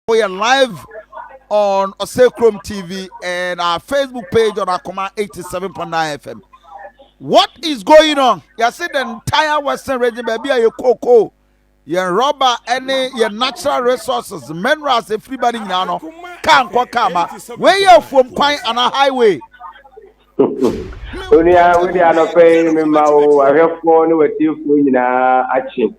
Woyɛ live on Ɔsɛ Kurom TV and our Facebook page on Akoma 87.9 FM. What is going on? Yɛse the entire western region baabi a yɛ cocoa, yɛn rɔba ne yɛn natural resources, minerals efiri ba ne nyinaa no, kaa nkɔ kaa ma. Wei yɛ afuom kwan anaa highway? Onua, wode anɔpa yi mema wo ahwɛfoɔ ne w'atiefoɔ nyinaa akye.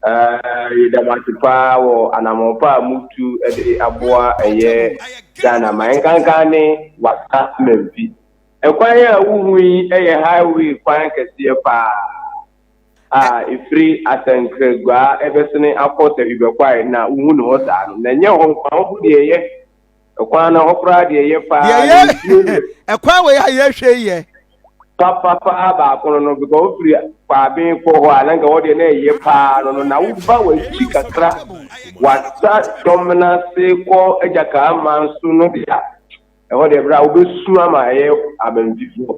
Aah yeda mo ase paa wɔ anamɔn pa a mo tu de aboa ɛyɛ Ghana ma ɛnkankan ne Wassa Mamfi. Ɛkwan a wo hu yi ɛyɛ highway kwan kɛseɛ paa a ɛfiri Asankragua ɛbɛsene akɔ Sahwi Bɛkwae na wo hu ne hɔ saa no na ɛnyɛ hɔ nko a wo hu deɛ ɛyɛ Ɛkwan no hɔ koraa deɛ yɛ paa. Deɛ yɛ ɛkwan wɔ yɛ a yɛhwɛ yɛ. Papapaa baako no no because wofiri kwaaben kɔ hɔ a na nka wɔdeɛ na ɛyɛ paa no no na woba w'akyi kakra wasa dɔm no ase kɔ agya kaa man so no deɛ a ɛhɔ deɛ berɛ a wobɛsu ama ɛyɛ abantifoɔ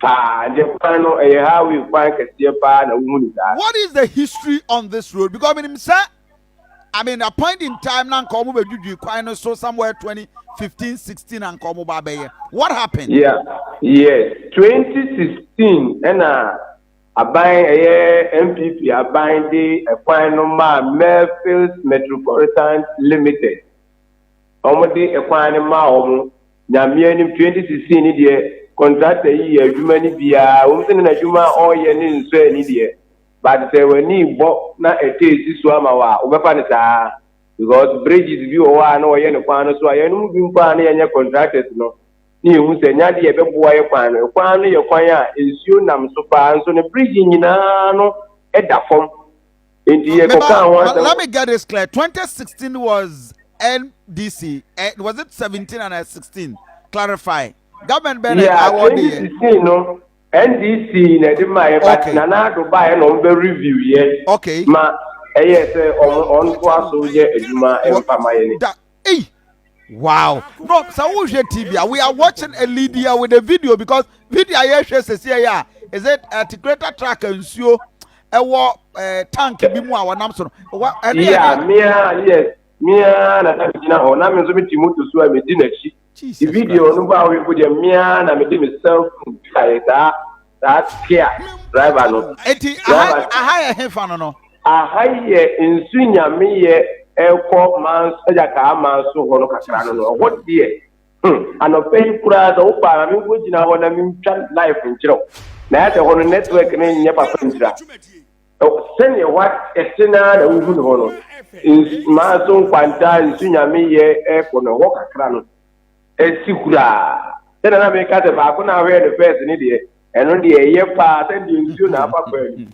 paa deɛ kwan no ɛyɛ highway kwan kɛseɛ paa na wohu ne saa. What is the history on this road because menim sɛ I mean a point in time na nka wɔn bɛdwidwi kwan no so somewhere 2015 16 na nka wɔn ba abɛyɛ what happened. yeah yes 2016 ɛna aban ɛyɛ npp aban de ɛkwan no maa merfils metropolitan limited wɔn de ɛkwan no maa wɔn nyameɛ nim 2016 ni deɛ contractor yi yɛ adwuma no biara wɔn sɛ ne n'adwuma a ɔreyɛ ne nsɔ ani deɛ. but sɛ w'ani rebɔ na ɛtɔ asi so ama wo a, wobɛfa no saa ara because bridges bi wɔ hɔ a na wɔyɛ no kwan no so a yɛn mu bi mpo a na yɛnyɛ contractors no na yɛhu sɛ ɛnyɛ adeɛ a ɛbɛboa yɛ kwan no. Kwan no yɛ kwan a nsuo nam so paa nso ne bridge nyinaa no da fam nti yɛkɔkaa ho asɛm. Let me get this clear, 2016 was NDC, eh, was it 17 and 16? Clarify. Government bɛn na ɛwɔ de yɛ? Yeah, 2016 no. NDC na ɛde ma yɛ but Nana Addo baeɛ na wɔn bɛ review yɛ ma ɛyɛ sɛ wɔn wɔn to aso yɛ adwuma mfa ma yɛ ne. Da ei wow no sɛ wo hwɛ TV a we are watching a lead here with a video because video a yɛ hwɛ sɛsi ɛyɛ a is it at greater track nsuo ɛwɔ ɛɛ tank bi mu a wɔnam so no wa ɛne ɛne. Yeah mia yes mia na na mi gyina hɔ na mi nso mi ti moto so a mi di n'akyi. Jesus Christ. Video no baa ɔyefo deɛ me ara na mede me cell phone twaeɛ saa saa Kia driver no. Enti aha Driver aha yɛ hefa no no? Aha yɛ nsu nyameyɛ ɛkɔ manso ɛgya kaa manso hɔ no kakra no no ɛhɔ deɛ hmm anɔpa yi koraa sɛ wo baa na me nkɔ gyina hɔ na me ntwa live nkyerɛ wo na ɛsɛ hɔ no network no nyɛ papa ntira. Sɛdeɛ wa ɛte no ara na wohu ne hɔ no, mmaa nso nkwanta, nsu nyame yɛ ɛkɔ no hɔ kakra no ɛsi kuraa. Sɛdeɛ na meka sɛ baako na ahwɛ no fɛs ne deɛ, ɛno deɛ ɛyɛ paa sɛdeɛ nsuo na afa kwan mu.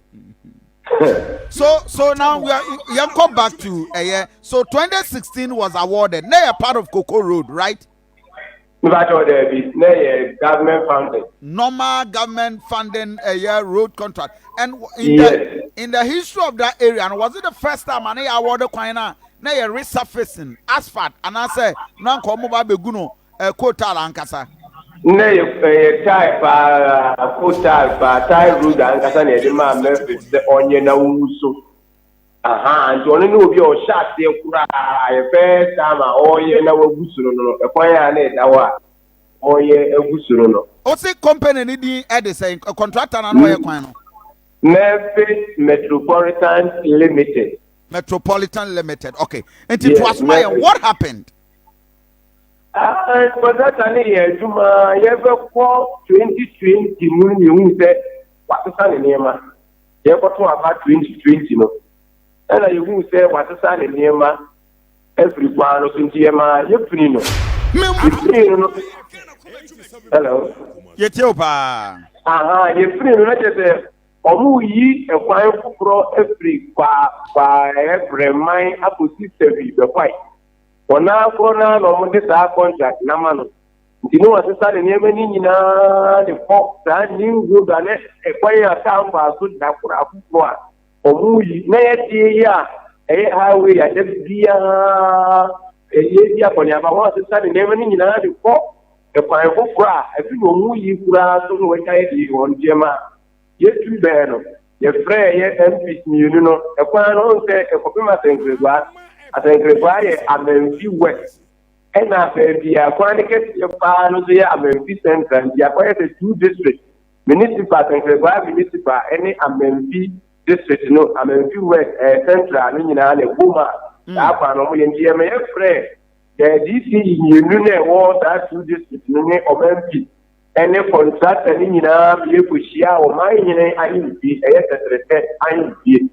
so so now we are yɛnkɔ back to ɛyɛ so 2016 was awarded na yɛ part of Koko Road right? Mepa kyɛw daabi, na ɛyɛ government funding. Normal government funding ɛyɛ road contract and in the in the history of that area no was it the first time a na yɛ award kwan na na yɛ resurfacing asphalt anaasɛ na nka wɔn ba abɛgu no eh, coal tar ankasa. Na yɛ ɛyɛ tar paa, coal tar paa, tar road ankasa na yɛde maa Murphy sɛ ɔnyɛ na wɔngu so. Ahaa nti ɔno ne obi a ɔhyɛ aseɛ koraa yɛ first time a ɔɔyɛ na wagu soro no no ɛkwan a na ɛda hɔ a ɔɔyɛ agu soro no. Ose company no din de sɛn? Contractor no a na ɔyɛ kwan no? Murphy's Metropolitan Limited. Metropolitan Limited okay nti yes, toa so ma yɛn what happened? Ah, contractor no yɛ adwuma yɛbɛkɔ 2020 mu no yɛhu sɛ wasesa ne nneɛma. Yɛkɔtoo aba 2020 no, ɛnna yehuu sɛ wɔasesa ne nneɛma afiri kwan no so, nti yɛmaa yefiri no. Yefiri no no, hello. Yɛtie wo paa. Aha, yefiri no na kyerɛ sɛ wɔreyi kwan foforɔ afiri kwaa kwaa ɛyɛ brɛman akɔsi sawi bɛkwae. Wɔn ara korɔ no ara na wɔde saa kɔntrak no ama no. Nti Noa sesa ne nneɛma no nyinaa de kɔ saa Nimrod a na ɛkwan a kaa mfaa so da koro afoforo a wɔyi na ɛyɛ den yi a ɛyɛ highway a da biara ɛyɛ di akɔneaba ho asesa ne nneɛma no nyinaa de kɔ ɛkwan foforo a ɛfi na wɔn yi koraa so na wɔatwa yɛ de wɔn nneɛma a yɛtu bɛɛ no yɛfrɛɛ yɛ MPs mmienu no ɛkwan no ho sɛ ɛkɔpem asɛnkeregua asɛnkeregua yɛ amanfi west Ɛna baabi a kwan no kɛseɛ paa no nso yɛ Amanfi Central nti akɔyɛ sɛ two districts, Municipal, Sankraguaa Municipal ne Amanfi District no, Amanfi West, ɛɛ Central no nyinaa na ɛbom a saa kwan no wɔyɛ nti ɛma yɛfrɛɛ ɛɛ DCE mmienu na ɛwɔ saa two districts no ne Ɔmanfi ɛne contractor no nyinaa ma yɛkɔhyia ɔman hene ahemfie, ɛyɛ tɛtrɛtɛ ahemfie.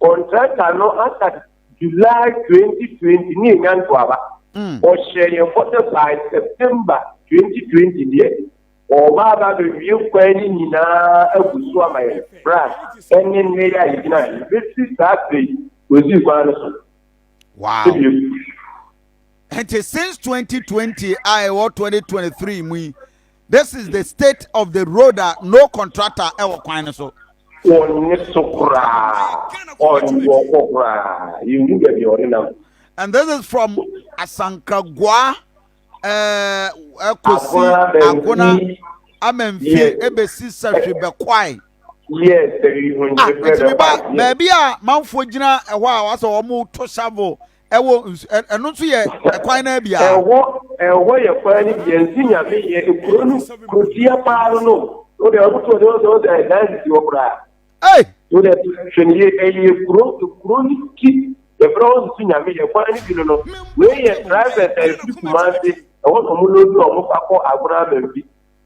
Contractor no aka. July twenty twenty ne yɛnya ntoaba. Ɔhyɛɛ yɛn bɔ sɛ by September twenty twenty deɛ, ɔreba aba abɛwie kwan no nyinaa agu so ama yɛn, berɛ a ɛne nnɛ yi a yɛgyina ha yi, bɛsi saa berɛ yi, ɔnsii kwan no so. Wow! Bio. Nti since twenty twenty a ɛwɔ twenty twenty three mu yi, This is the state of the road a no contractor ɛwɔ kwan no so. Ɔnye so koraa, ɔnye wɔn kɔ koraa, yɛnhu baabi a ɔde nam. And this is from Asankragua ɛkɔsi eh, Agona Amanfi ɛbɛsi Sahwi Bɛkwae. Yes, ah, ɛtumi ba baabi a manfoɔ gyina ɛhɔ a wɔasɛ wɔn to shovel Ɛwɔ nsu ɛ ɛno nso yɛ ɛkwan naa bi a. Ɛwɔ ɛwɔ yɛ kwan no bi a nsu nyame yɛ ekuro no kuro tia paa no no o de ɔno to ɔde ɔsɛ ɔsɛ ɛdan sisi hɔ koraa. Ɛy. O de hwɛ ne yɛ ɛyɛ ekuro ekuro no ti yɛ fɛrɛ wɔn nsu nyame yɛ kwan no bi no no wei yɛ drivers a efiri kumase ɛwɔ na ɔmo lodi ɔmo fa kɔ agorɔ ama bi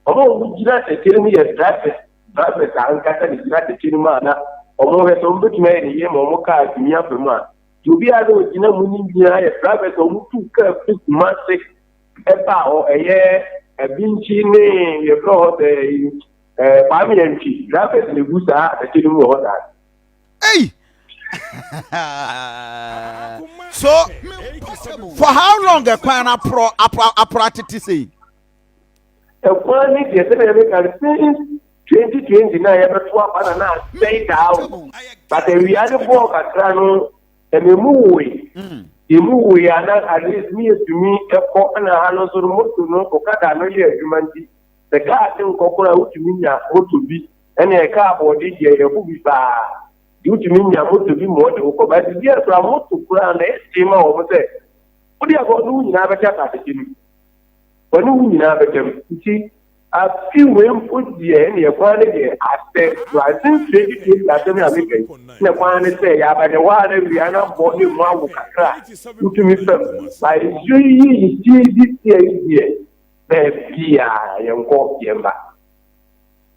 ɔmo ɔmo gyina tɛkyɛ no mu yɛ drivers drivers ankasa ne gyina tɛkyɛ no mu a na ɔmo hwɛ sɛ ɔmo betumi ayɛ ne yie ma ɔmo kaa tumi afa mu a. Obiara na ogyina mu no nyinaa yɛ drivers a wɔtu kaa fi Kumase ɛba hɔ ɛyɛ Abinkyi ne yɛfrɛ hɔ sɛ ɛɛ Kwame Antwi drivers na egu saa atɛkyɛ no mu wɔ hɔ saa. Ei! so for how long ɛkwan no aporɔ aporɔ aporɔ atete sei? Ɛkwan ne deɛ sɛdeɛ meka no since 2020 na yɛbɛto aba na na asɛe daa o but awia no bɔɔ kakra no ɛna ɛmu woe mm. ɛmu woe a na at least ne yɛtumi ɛkɔ ɛna ha no nso no moto no okada no yɛ adwuma nti sɛ kaa te nkɔ koraa wotumi nya moto bi ɛna ɛka abɔde deɛ yɛbo bi paa de wotumi nya moto bi ma ɔde wokɔ but bi ɛkora moto koraa na ɛsee ma wɔn sɛ wode abɔ no nyinaa bɛhyɛ atade no wɔne wo nyinaa bɛda mu. Nti afe wei mpo deɛ ɛneɛ kwan ne deɛ asɛ Awurade nsrɛ gye siesie asɛm yi a meka yi ne kwan ne sɛ yɛaba ne hɔ a na awia no abɔ ne mu awo kakra wotumi fam ba nsuo yi yɛ yi ti di sia yi deɛ baabiaa yɛnkɔ yɛmba.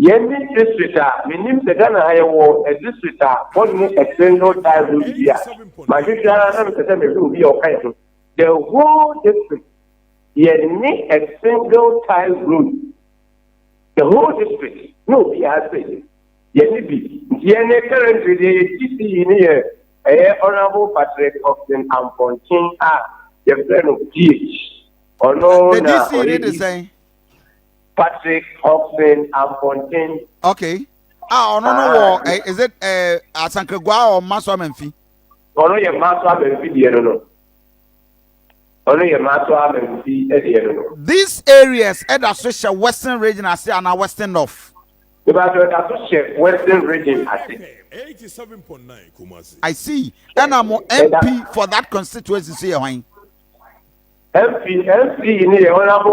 Yɛn ne district a menim sɛ Ghana ha yɛwɔ district a wɔnni a single die road bi a mahwehwɛ ara na mepɛ sɛ mehwɛ obi a ɔka yɛn ho. The whole district yɛnni a single tie road. The whole district na obiara sɛ yɛnni bi. Nti yɛn ne currently deɛ yɛ TCE ne yɛ ɛyɛ Honourable Patrick Austin Ampɔnkyen a yɛfrɛ no PH. Ɔno na ɔyɛ DC. Patrick Hobson Ampɔnten. Okay. A ah, ɔno no wɔ ah. eh, is it eh, Asankagua or Maso Amanfi? Ɔno yɛ Maso Amanfi deɛ no no. Ɔno yɛ Maso Amanfi eh, deɛ no no. These areas ɛda eh, so hyɛ Western region ase ana Western North? Ìbàdàn ẹ̀dá tó ṣe western region àti. I see. Ẹna mo MP for that constituency ṣe yẹ wọ́n. MP MP ni yẹ wọ́n náà mú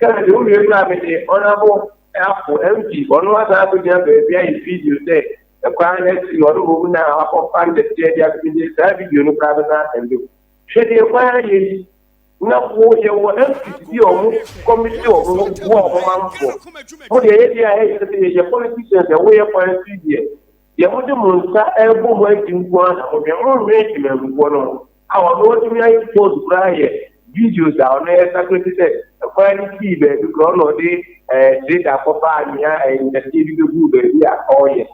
Ghana deɛ wowie koraa mede ɔnabo afo MP ɔno asan akɔgyina baabi ayɛ video sɛ ɛkwan no asi ɔno mmom na wakɔfa nnɛteɛ de ato gye saa video no koraa bɛsan asɛnde o hwɛ deɛ kwan ayɛ yi na wo yɛwɔ MPs bi a ɔmo kɔmiti ɔmo ho boa ɔmo manfoɔ mo deɛ yɛdeɛ a ɛyɛ sɛ yɛyɛ politicians ɛwo yɛ kwan si deɛ Deɛ mode mo nsa rebɔ mu agye nko ara na modwen, monnwen temanmufoɔ no ho a ɔno watumi ayɛ sports koraa ayɛ videos a ɔno yɛ sakre te sɛ ɛkwan no sii baabi koraa ɔna ɔde ɛɛ trader kɔfaa nea ɛɛ ntateɛ bi bɛguu baabi a ɔreyɛ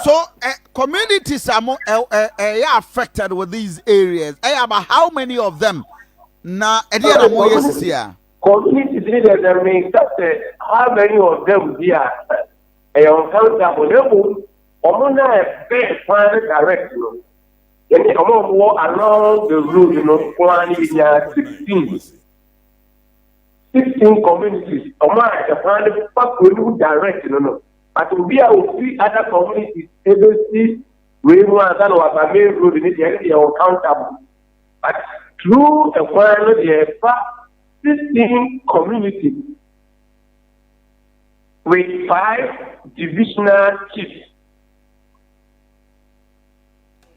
So uh, communities are more, uh, uh, uh, affected with these areas. I have how many of them? Na ɛdeɛ na mo yɛ sisi a. Communities ne deɛ na meka sɛ how many of them bi a ɛyɛ uncountable na mmom wɔn no a ɛbɛn paa no direct no yɛne wɔn a wɔwɔ along the road no nko ara no yɛnyaa sixteen sixteen communities wɔn a ɛkwan no fa kuro no mu direct no no but obi a ofi other communities ebesi wei mu ansa na waba main road ne deɛ ɛne deɛ uncountable. Atitiriw kwan no deɛ ɛfa system community with five divisional chiefs.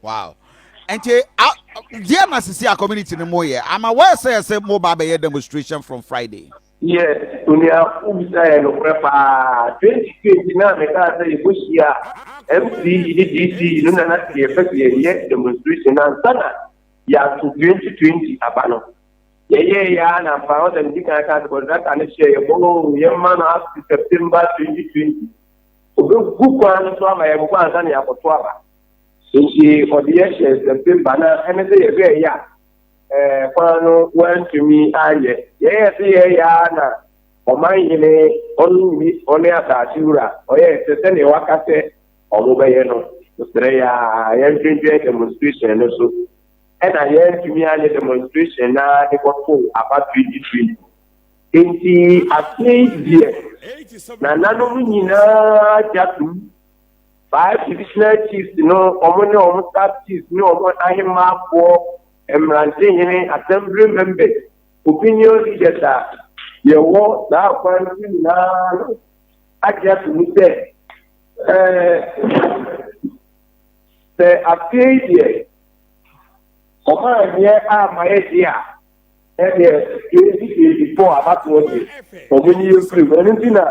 Wow. nti deɛ na sisi a community no mo yɛ ama wɔyɛ sɛ yɛ sɛ mo ba abɛyɛ demonstration from friday. Yɛ onua wobisa yɛ nokorɛ paa 2020 no a mekaa sɛ yɛbɔhyia MC yi ne DC yi no na na sɛ yɛpɛ sɛ yɛyɛ demonstration no ansa na yɛato 2020 aba no yɛyɛɛ yɛ a na ampa ɔsɛ medi kan kaa sɛ contractor no hyɛ yɛ bɔ oo yɛmma no up to September 2020 ɔbɛgu kwan no so ama yɛbobɔ ansa na yɛakɔto aba nti ɔde yɛhyɛ September na ɛne sɛ yɛbɛɛyɛ a ɛɛ kwan no wɔantumi anyɛ. Yɛyɛ sɛ yɛyɛ ara na ɔmanhene ɔno nni ɔne asase wura ɔyɛ sɛ sɛdeɛ waka sɛ wɔbɛyɛ no. Mesrɛ yɛ ara yɛntwentwɛn demonstration no so. Ɛna yɛantumi anyɛ demonstration no ara de kɔtoo aba 23. Enti aseɛ yi deɛ nananom nyinaa gya tom. Five divisional chiefs no, wɔn ne wɔn sub chiefs ne wɔn ahemmafoɔ, mmerantenyene, assembly members, opinion leaders a yɛwɔ saa kwan no so nyinaa no agye ato mu sɛ ɛɛ sɛ afei deɛ wɔn a nyɛ a ma yɛ de a ɛdeɛ twenty twenty four abatoɔ de wɔn ni yɛ firi mu ɛno ti na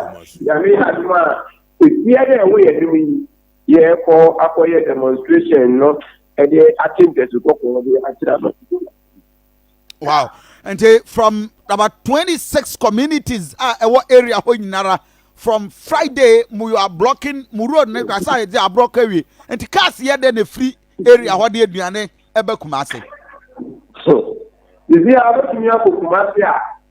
nyame adum a Ebia dɛ wo yɛnnom yi yɛɛ kɔ akɔ yɛ demonstration no de akye ntasu kɔkɔɔ de akyerɛ amanfo. Wow. Nti from about 26 communities a ɛwɔ area hɔ nyinara from Friday mu you are blocking mu road ne kra sɛ yɛde aborɔ kɔ awie. Nti cars yɛ dɛ na ɛfiri area hɔ de aduane ɛbɛ Kumase. So, biribiara bɛtumi akɔ Kumase a.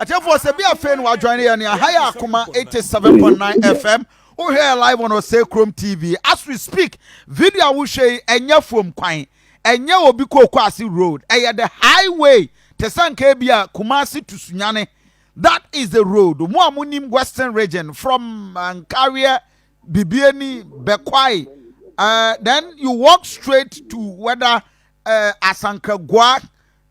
atiefoɔ sɛ bi afei no wadwane yɛ ne aha yɛ akoma 87.9 fm wohwɛ yɛ live on ɔsɛ kurom tv as we speak video a wohwɛ yi ɛnyɛ fam kwan ɛnyɛ obi kookɔ ase road ɛyɛ the highway te sɛ nka bi a kumase to sunyane that is the road mo a monim western region from uh, nkareɛ bibiani bɛkwae uh, then you walk straight to whether uh, asankragua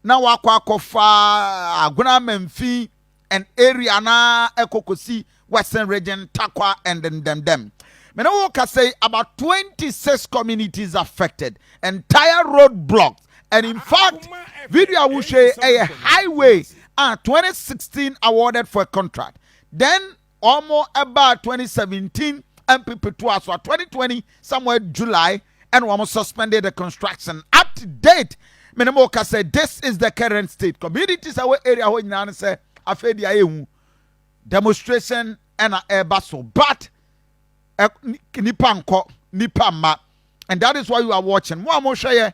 na wakɔ akɔfa Aguanamamfi and area na ɛkɔ kɔsi Western Region, Tarkwa and Ndemdem. Me ne wo kasa yi, about 26 communities affected, entire road blocked and in fact, video a wohwɛ yi ɛyɛ highway a 2016 awarded for a contract. Then Ɔmo ɛbaa twenty seventeen mpp toaa so a twenty twenty somewhere July ɛna ɔmo suspended the construction up to date me ne mo kasa yi this is the current state communities a ɛwɔ area hɔ nyinaa ne sɛ afei deɛ ayɛ hu demonstration ɛna ɛba so but ɛ nipa nkɔ nipa mma and that is why you are watching mo a mo hwɛ yɛ